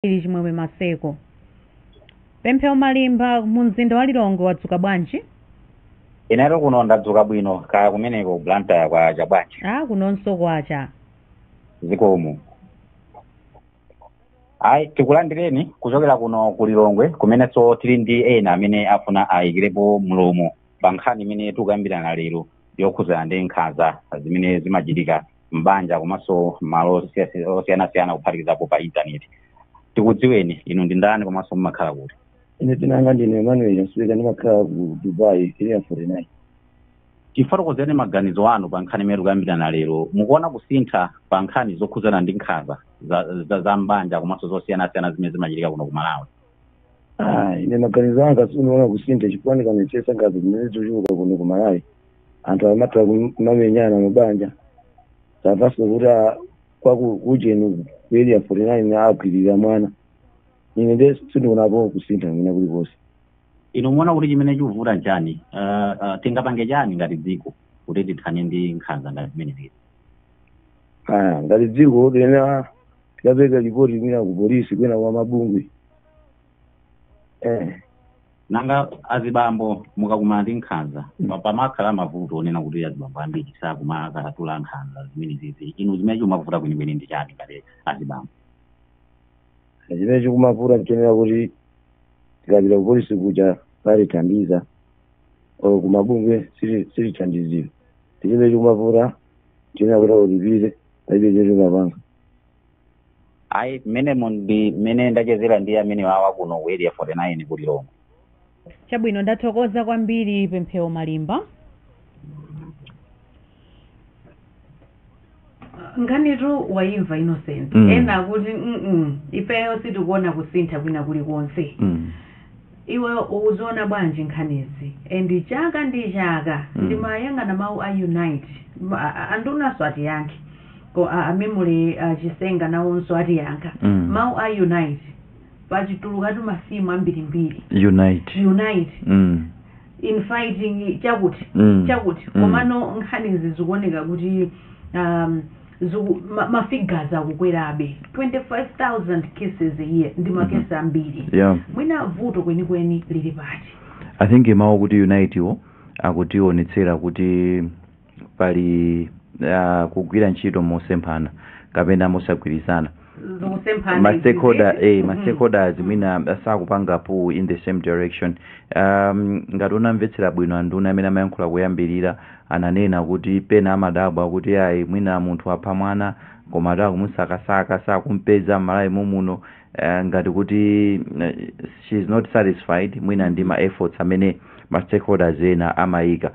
kwambiri Chimwemwe Maseko. Pemphero Malimba mu mzinda wa Lilongwe wadzuka bwanji? Inetu kuno ndadzuka bwino kaya kumeneko Blantyre kwacha bwanji Ah, kunonso kwacha. zikomo. Ayi tikulandireni kuchokera kuno ku Lilongwe kumenenso tili ndi ena amene afuna ayikirepo mlomo pa nkhani imene tikukambirana lero yokhudzana ndi nkhanza zimene zimachitika m'banja komanso malo osiyasi- osiyanasiyana kuphatikizapo pa intaneti tikudziweni inu ndi ndani komanso mumakhala kuti ine dzina langa ndine emmanuel nsweka ndimakhala ku dubai area 49 tifotokozereni maganizo anu pa nkhani imene tikukambirana lero mukuona kusintha pa nkhani zokhudzana ndi nkhanza za, za, za mbanja komanso zosiyanasiyana zimene zimachitika kuno ku malawi Ah, ine maganizo anga sindikuona kusintha chifukwa ndikaonetsetsa nkhanza zimenezi zachuluka kuno ku malawi anthu amatha kum- kumamenyana mabanja posachedwapa kuti a- kwa ku- kujeni ku area 49 agwirira mwana ine nde sindionapo kusintha mwina kulikonse inu mukuona kuti chimene chikuvuta nchani uh, uh, tingapange chani ngati dziko kuti tithane ndi nkhanza ngati zimenezi Ah, ngati dziko lina tikapereka lipoti kwina ku polisi kwina kwa mabungwe eh. nanga azibambo mukakumana ndi nkhanza pa- pamakhala mavuto onena kuti azibambo ambiri sakumakatula nkhanza zimenezi inu zimene chimavuta kwenikweni ndi chani ngati azibambo chimene chikumavuta nchonena kuti tikapita ku polisi kuja salithandiza or ku mabungwe sili- silithandizira ndichimene chikumavuta nchonena kuti ulipire palibe chomwe ungapange ayi mmene mu- ndi mmene ndachezera ndi amene wawa kuno ku area 49 ku lilongwe chabwino ndathokoza kwambiri pemphero malimba nkhanitu wayimva innocent Mm. ena akuti mm ifeyo sitikuona kusintha kwina kulikonse mm. iwe ukuziona bwanji nkhanizi and chaka ndi chaka Mm. ndimayang'ana mawu a unite Ma- a- andunanso atiyankhe ko a a memory chisenga nawonso atiyankha Mm. mau a unite patulukatu ma theme ambirimbiri unite unite mm. in fighting chakuti Mm. chakuti Mm. komano nkhanizi zikuoneka kuti um, ziku, ma, ma figures akukwerabe 25000 cases a year ndi makesi ambiri yeah mwina vuto kwenikweni lili pati i think mawu kuti unite wo akutionetsera kuti pali ah, kugwira ntchito mosemphana kapena mosagwirizana zikusemphana ma stakeholder izi, eh, ma mhm. stakeholders mwina sakupanga pull in the same direction um, ngati unamvetsera bwino anduna amene amayankhula kuyambirira ananena kuti pena amadabwa kuti ayi mwina munthu wapha mwana koma ati akumusakasaka sakumpeza mmalawi mommuno ngati kuti she is not satisfied mwina ndi ma efforts amene ma stakeholders ena amayika.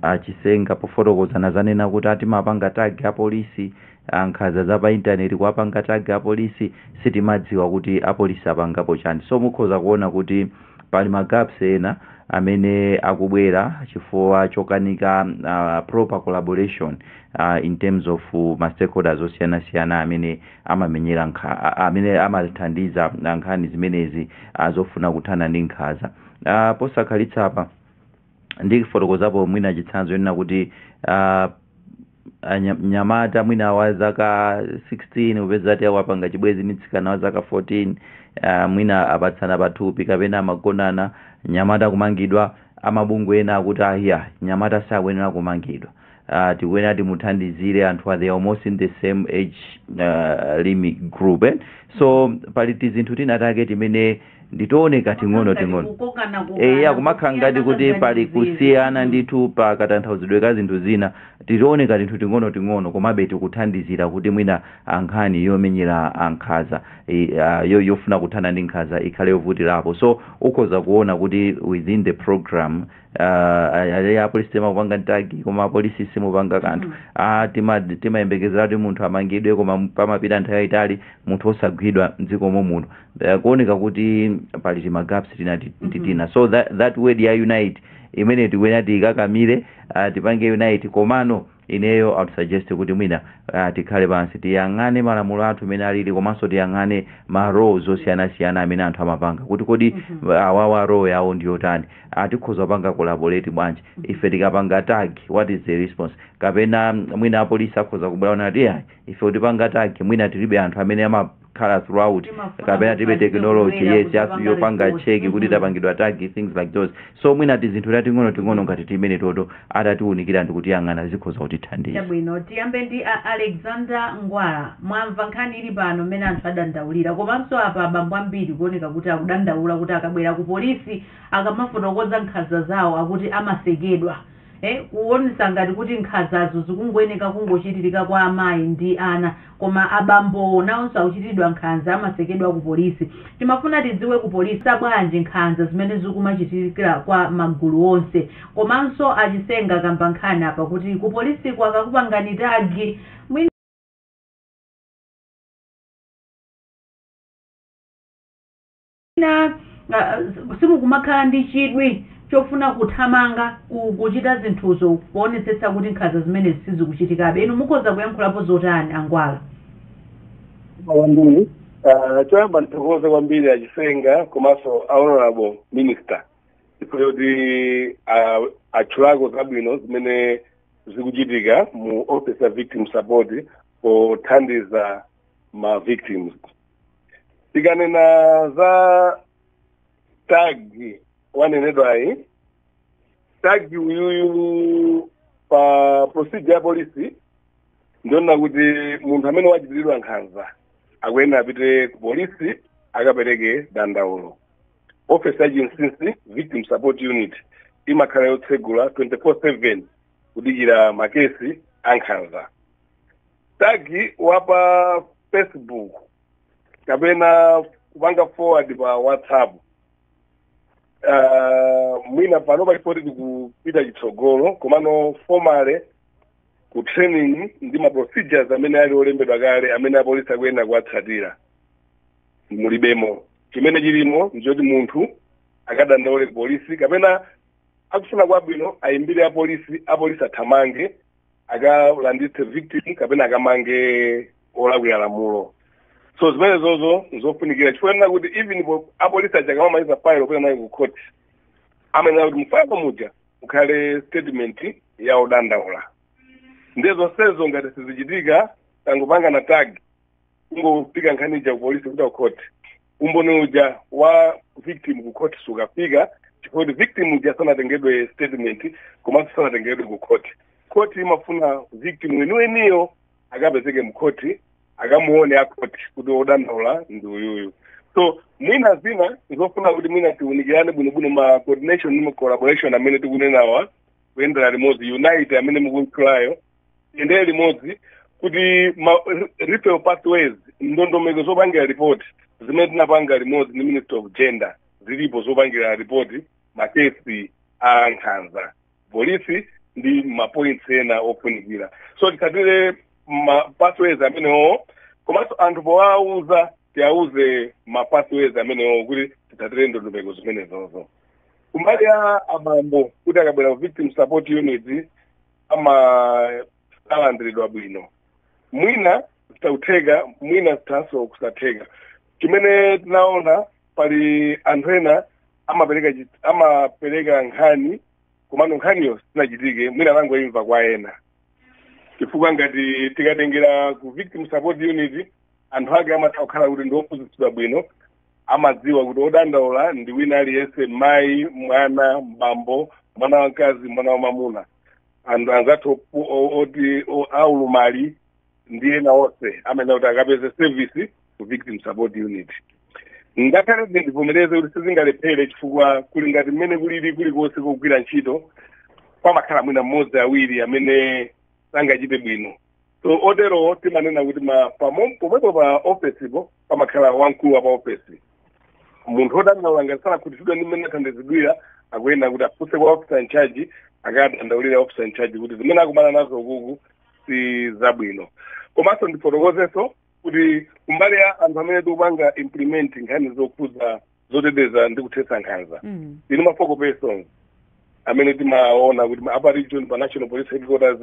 A Chisenga pofotokoza anadzanena kuti a timapanga tag a polisi, a nkhanza za pa internet kuwapanga tag a polisi, sitimadziwa kuti a polisi apangapo chani. So mukhoza kuona kuti pali ma gaps ena amene akubwera chifukwa chokanika proper collaboration in terms of ma stakeholders osiyanasiyana amene amamenyera nkha, a, amene amathandiza a, nkhani zimenezi a, zofuna kuthana ndi nkhanza. A, Posakhalitsa apa ndifotokozapo mwina chitsanzo chonena kuti a, a, nya- mnyamata mwina wa zaka 16 upeza kuti wapanga chibwenzi ndi mtsikana wa zaka 14 a, mwina apatsana pathupi kapena amagonana mnyamata kumangidwa amabungwe ena akuti ayi mnyamata sakuyenera kumangidwa uh, tikuyenera timuthandizire anthu they are almost in the same age uh, limit group eh? so pali tizinthu tina take timene ndi tooneka ting'ono ting'ono eya kumakhala ngati kuti pali kusiyana ndithu pa katanthauzidwe ka zinthu zina titooneka tinthu ting'ono ting'ono komabe tikuthandizira kuti mwina a nkhani yomenyera a nkhanza e, uh, yo, yofuna kuthana ndi nkhanza ikhale yovutirapo so ukhoza kuona kuti within the program apolisi timakupanga tag koma apolisi simumapanga kanthu a tima timayembekezera kuti munthu amangidwe koma m- pamapita nthawi yayitali munthu osagwidwa mdziko momuno Eh, kuoneka kuti pali timagaps tina ti- ti- tina so that, that word ya unite imene tikuyenera tiikakamire ah, tipange unite komano Ineyo I'd suggest kuti mwina aah tikhale pansi tiyang'ane malamulo athu mmene alili komanso tiyang'ane ma roles osiyanasiyana amene anthu amapanga kuti kodi awawa role yawo ndi yotani? Aah tikhoza kupanga collaborate bwanji? Ife tikapanga tag what is the response? Kapena mwina apolisi akhoza kubwera kunena kuti iyayi ife kutipanga tag mwina tilibe anthu amene amap. khala throughout kapena tilibe technology yes yopanga check kuti tapangidwa tag things like those so mwina tizinthu tating'ono ting'ono ngati timeneto atatiwunikira ndi kutiyang'ana zikhoza kutithandiza chabwino tiyambe ndi alexander ngwala mwamva nkhani ili pano mmene anthu adandaulira komanso apa abambo ambiri kuoneka kuti akudandaula kuti akabwera ku polisi akamafotokoza nkhanza zawo akuti amasekedwa e Kuonetsa ngati kuti nkhanzazo zikungoyeneka kungochitirika kwa amayi ndi ana koma abambowo nawonso akuchitiridwa nkhanza amasekedwa ku polisi. Timafuna tidziwe ku polisi za bwanji nkhanza zimene zikumachitikira kwa magulu onse. Komanso a Chisenga akamba nkhani apa kuti ku polisiko akakupangani tag mwina. Mwina simukumakhala ndi chidwi chofuna kuthamanga kuchita zinthuzo poonetsetsa kuti nkhanza zimenezi sizikuchitikabe. Inu mukhoza kuyankhulapo zotani a Ngwala? Zikomo kwambiri. Choyamba ndithokoze kwambiri a Chisenga komanso a Honourable Minister chifukwa choti atchulako zabwino zimene zikuchitika mu office ya Victim Support pothandiza ma victims. tikanena za tagi wanenedwayi tagi uyuyu pa procedure ya polisi ndionena kuti munthu amene wachitiridwa nkhanza akuyenera apite ku polisi akapereke dandaulo office ya chinsinsi victim support unit imakhala yotsegula 24/7 kudikira makesi a nkhanza tagi wa pa facebook kapena kupanga forward pa whatsapp uh, mwina pano palipoti tikupita chitsogolo komano formally ku training ndi ma procedures amene ali olembedwa kale amene apolisi akuyenera kuwatsatira mulibemo chimene chilimo ndichoti munthu akadandaule ku polisi kapena akufuna kwabwino ayimbire apolisi apolisi athamange akalanditse victim kapena akamange olakwira lamulo so zimenezozo nzofunikira chifukwa chonena kuti even po- apolisi aja akamamaliza file opita nayo ku court amayenera kuti mufayilo muja mukhale statement ya odandaula ndiye zonsezo ngati sizichitika tangopangana tag kungofika nkhani ija kupolisi kupita kukhoti umboni uja wa victim kukhoti sukafika chifukwa kuti victim uja sanatengedwe statement komanso sanatengedwe kukhoti khoti imafuna victim weniweniyo akapezeke mkhoti akamuone akhoti kuti odandaula ndi uyuyu so mwina zina zofuna kuti mwina tiunikirane bwinobwino ma coordination ndi ma collaboration amene tikunenawa kuyendera limodzi unity amene mukuitchulayo iyende limodzi kuti ma referral pathways ndondomeko zopangira report zimene tinapanga limodzi ndi ministry of gender zilipo zopangira report makesi a nkhanza polisi ndi mapoints ena ofunikira so titsatire ma pathways amenewo komanso anthu powauza tiauze ma pathways amenewo kuti titsatire ndondomeko zimenezozo kumbali ya abambo kuti akabwera ku victim support unit samalandiridwa bwino mwina zitha kutheka mwina zithanso kusatheka chimene tinaona pali anthu ena amapereka chi- amapereka nkhani komano nkhaniyo sinachitike mwina anangoimva kwa ena chifukwa ngati tikatengera ku victim support unit anthu ake amatha kukhala kuti ndi ophunzitsidwa bwino amadziwa kuti odandaula ndi wina aliyense mayi mwana bambo mwana wamkazi mwana wamamuna anthu anzathu opu- o- oti o- aulumali ndi ena onse amene kuti akapeze service ku victim support unit ngakhale ndivomereze kuti sizingalephere chifukwa kuli ngati mmene kulili kulikonse kogwira ntchito pamakhala mwina mmodzi awiri amene sangachite bwino so oterowo timanena kuti ma pamo- pomwepo pa ofesipo pamakhala wamkulu wa pa ofesi munthu odandaula ngati sanakhutitsidwe ndi mmene athandizidwira akuyenera kuti afunse kwa officer in charge akadandaulire officer in charge kuti zimene akumana nazo ukuku si zabwino komanso ndifotokozenso kuti kumbali ya anthu amene tikupanga implement nkhani zokhudza zoteteza ndi kuthetsa nkhanza Mm. ino ma focal persons amene timaona kuti a pa region pa national police headquarters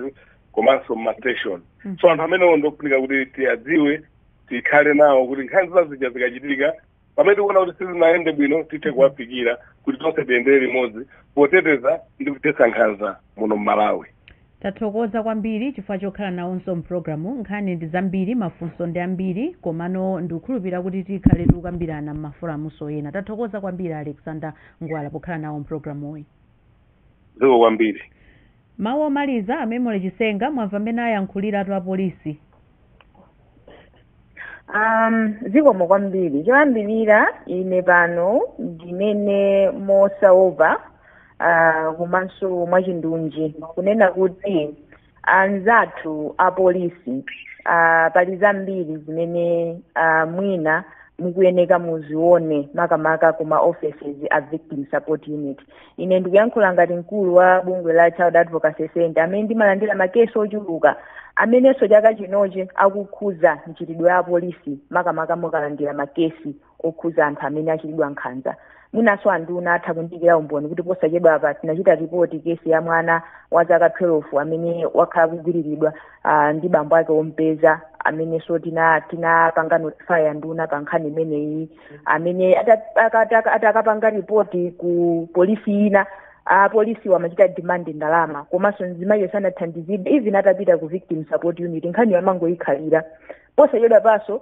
komanso ma station Mm. so anthu amenewo ndofunika kuti tiwadziwe tikhale nawo kuti nkhanza zija zikachitika pamene tikuona kuti sizinayende bwino tithe kuwafikira kuti tonse tiyendere limodzi poteteza ndi kuthetsa nkhanza muno mmalawi Tathokoza kwambiri chifukwa chokhala nawonso mprogramu nkhani ndi zambiri mafunso ndi ambiri komano ndikukhulupira kuti tikhale tikukambirana mmaforamunso ena tathokoza kwambiri a Alexander Ngwala pokhala nawo mprogramuyi. zikomo kwambiri. Mawu omaliza a Memory Chisenga mwamva mmene ayankhuliratu apolisi. Um, zikomo kwambiri choyambirira ine pano ndinene mosaopa uh, komanso mwachindunji kunena kuti anzathu apolisi uh, pali zambiri zimene uh, mwina mukuyeneka muzione makamaka kuma offices a victim support unit ine ndikuyankhula ngati mkulu wa bungwe la child advocacy center amene ndimalandira makesi ochuluka amenenso chaka chinochi akukhuza mchitidwe wa polisi makamaka mukalandira makesi okhuza anthu amene achitidwa nkhanza mwinanso anduna atha kundiikira umboni kuti posachedwa apa tinachita ripoti kesi ya mwana wa zaka 12 amene wakhala akugwiriridwa uh, ndi bambo ake ompeza amenenso tinapanga tina notify anduna pa nkhani imeneyi amene ata- aka- aka- ati akapanga ripoti ku polisi ina apolisiwa amachita demand ndalama komanso mzimayiyo sanathandizidwe even atapita ku victim support unit nkhaniyo amangoyikhalira posachedwa panso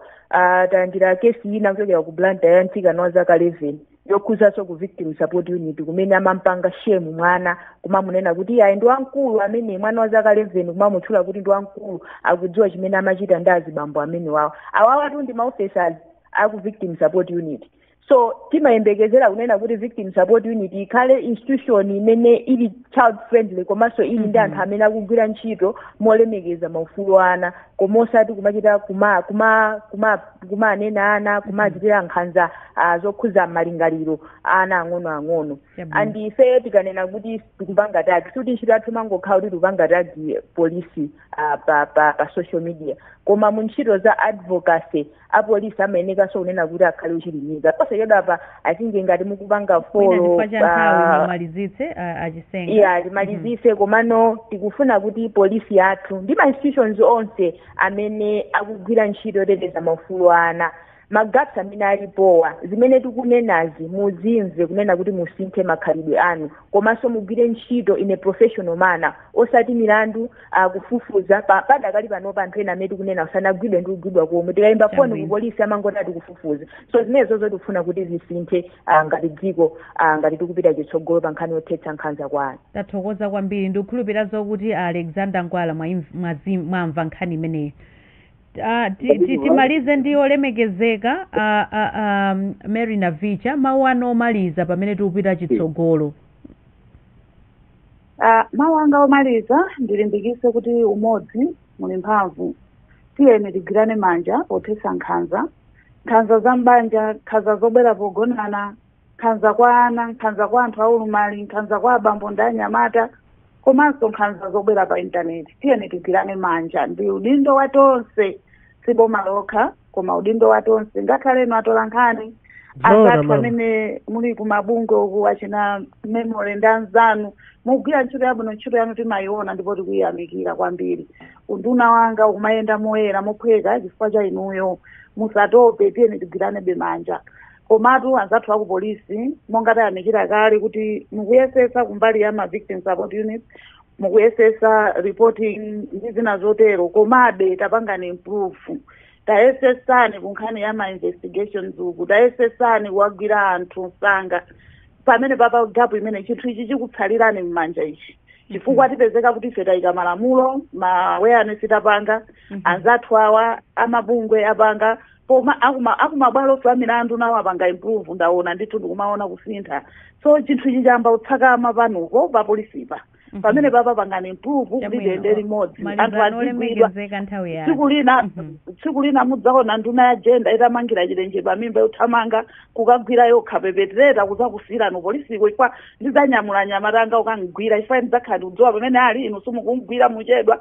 talandira kesi ina kuchokera ku Blantyre ya mtsikana wa zaka 11 yokhuzanso ku victim support unit kumene amampanga shame mwana kumamunena kuti iye ayi ndi wamkulu amene mwana wa zaka 11 kumamutchula kuti ndi wamkulu akudziwa chimene amachita ndi azibambo amene wawo awawatu ndi ma officers aku victim support unit so timayembekezera kunena kuti victim support unit ikhale institution imene ili child friendly komanso ili ndi anthu amene akugwira ntchito molemekeza maufulu a ana koma osati kumachita kuma kuma kuma kumanena ana kumachitira nkhanza ah, zokhudza malingaliro a ana ang'onoang'ono Yabwino. and ife tikanena kuti tikupanga tagi sikuti ntchito yathu imangokhala kuti tikupanga tagi polisi ah, pa, pa, pa social media koma mu ntchito za advocacy apolisi amayenekanso kunena kuti akhale ochilimika posachedwa apa i think ngati mukupanga mwina folo chifukwa cha nthawi ah, mumalizitse ah, achisenga iya timalizise komano tikufuna kuti polisi yathu ndi ma institutions onse amene akugwira ntchito yoteteza maufulu a ana magaps amene alipowa zimene tikunenazi muzimve kunena kuti musinthe makhalidwe anu komanso mugwire ntchito in a professional manner osati milandu kufufuza pa- padakali panopa anthu ena amene tikunena sanagwidwe ndi kugwidwa komwe tikayimba foni Chabwino. ku polisi amangoti tikufufuza so zimenezo tikufuna kuti zisinthe ah, ngati dziko ah, ngati tikupita chitsogolo pa nkhani yothetsa nkhanza kwa ana tathokoza kwambiri ndikukhulupirira zokuti a alexander ngwala mwaimv- mwazi- mwamva nkhani imeneyi Ah, ti- ti- Chabwino. timalize ndi olemekezeka ah, ah, ah, mary navicha mawu anu omaliza pamene tikupita chitsogolo Ah, mawu anga omaliza ndilimbikise kuti umodzi muli mphamvu tiyeni tigwirane manja pothetsa nkhanza nkhanza za m'banja nkhanza zobwera pogonana nkhanza kwa ana nkhanza kwa anthu aulumali nkhanza kwa abambo ndi anyamata komanso nkhanza zobwera pa intaneti tiyeni tigwirane manja ndi udindo wa tonse si boma lokha koma udindo wa tonse ngakhale inu atola nkhani Zoona, anzathu mama. amene muli kumabungwe uku achina memory ndi anzanu mukugwira ntchito yabwino ntchito yanu timayiona ndipo tikuyiyamikira kwambiri unduna wanga ukumayenda moyera mophweka chifukwa cha inuyo musatope tiyeni tigwiranebe manja komatu anzathu aku polisi monga tayamikira kale kuti mukuyesetsa kumbali ya ma victim support units mukuyesetsa reporting ndi zina zotero komabe tapangani improve tayesetsani kunkhani ya ma investigations uku tayesetsani kuwagwira anthu msanga pamene papa gap imene chinthu ichi chikutsalirani m'manja ichi chifukwa tipezeka kuti ife tayika malamulo ma awareness tapanga anzathu awa amabungwe apanga koma akuma akumabwalonso a milandu nawo apanga improve ndaona ndithu ndikumaona kusintha so chinthu ichi chayamba kutsakama panupo pa polisipa Mhm. pamene papa pangani improve kuti Chabwino. tiyende limodzi anthu malizani azigwidwa olemekezeka nthawi yanu tsiku lina Mhm. tsiku lina mudzaona nduna ya jenda itamangira chilenje pamimba yothamanga kukagwira yokha pepetereta kuzakusiyirani upolisiko chifukwa ndidzanyamula anyamata anga kukamgwira chifukwa ndidzakhala ndikudziwa pamene ali inu simukumgwira muchedwa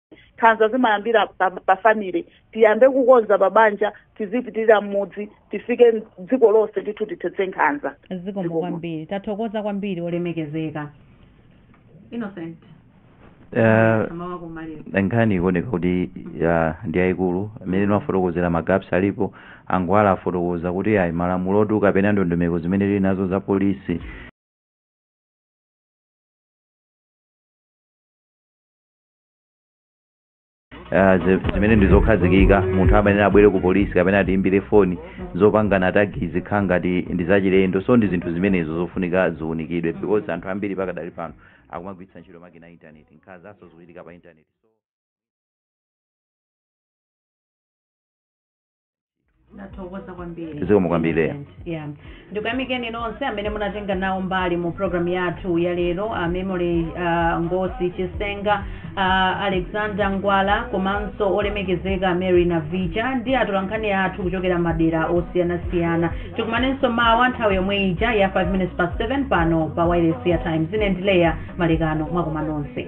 nkhanza zimayambira pa, pa family tiyambe kukonza pabanja tizipitirira mmudzi tifike dziko lonse ndithu tithetse nkhanza zikomo Zikomo. kwambiri tathokoza kwambiri olemekezeka nkhani ikuoneka kuti ya, ndi yayikulu imene timafotokozera magaps alipo a ngwala afotokoza kuti ayi malamulo oti kapena ndondomeko zimene tili nazo za polisi Ah, zi- zimene ndi zokhazikika munthu amayenera abwere ku polisi kapena atiimbire foni zopangana tag zikhala ngati ndi zachilendo so ndi zinthu zimenezo zofunika ziunikidwe because anthu ambiri pakadali pano akumagwiritsa ntchito makina a intaneti nkhanzanso zikuchitika pa intaneti nathokoza kwambiri Zikomo kwambiri. yeah. ndikuyamikeni nonse amene munatenga nawo mbali mu pulogalamu yathu ya lero uh, memory uh, ngosi chisenga uh, alexander ngwala komanso olemekezeka mary navicha ndi atolankhani athu kuchokera madera osiyanasiyana tikumanenso mawa nthawi yomwe ija ya 5 minutes past 7 pano pa wireless ya times ine ndi leah malekano mwakoma nonse